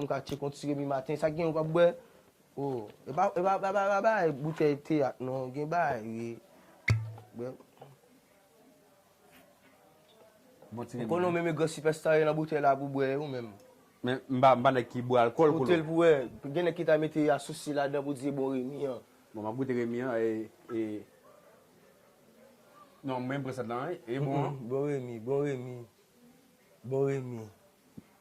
M ka tchek yon ti remi maten. Sa gen ou pap bwè? Oh e pa e pa bagay boutèy teyat non gen bagay wi bwè. Bon ti remi. Ou konnen ou menm e gran sipèsta ye nan boutèy la pou bwè ou menm. Men m pa m pa nèg ki bwè alkòl kolo. Goute l pou wè. Gen nèg ki ta mete asousi ladan pou di e bon remi an. Bon map goute remi an e e non m renmen brasèt lan wi e bon an. Bon remi bon remi bon remi.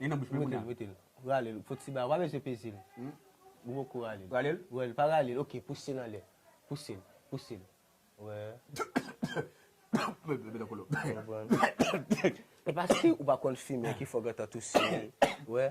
Li nan bouch mwen kounya. Mete l, mete l. Rale l. Fo ti bagay. Ou pa bezwen peze l. Ou poko rale l. Rale l? Wè l. Pa rale l. Ok. Pouse l anlè. Pouse l. Pouse l. Wè. Mete nan kolo. Se pa si ou pa konn fimen ki fè w gentan touse. Wè.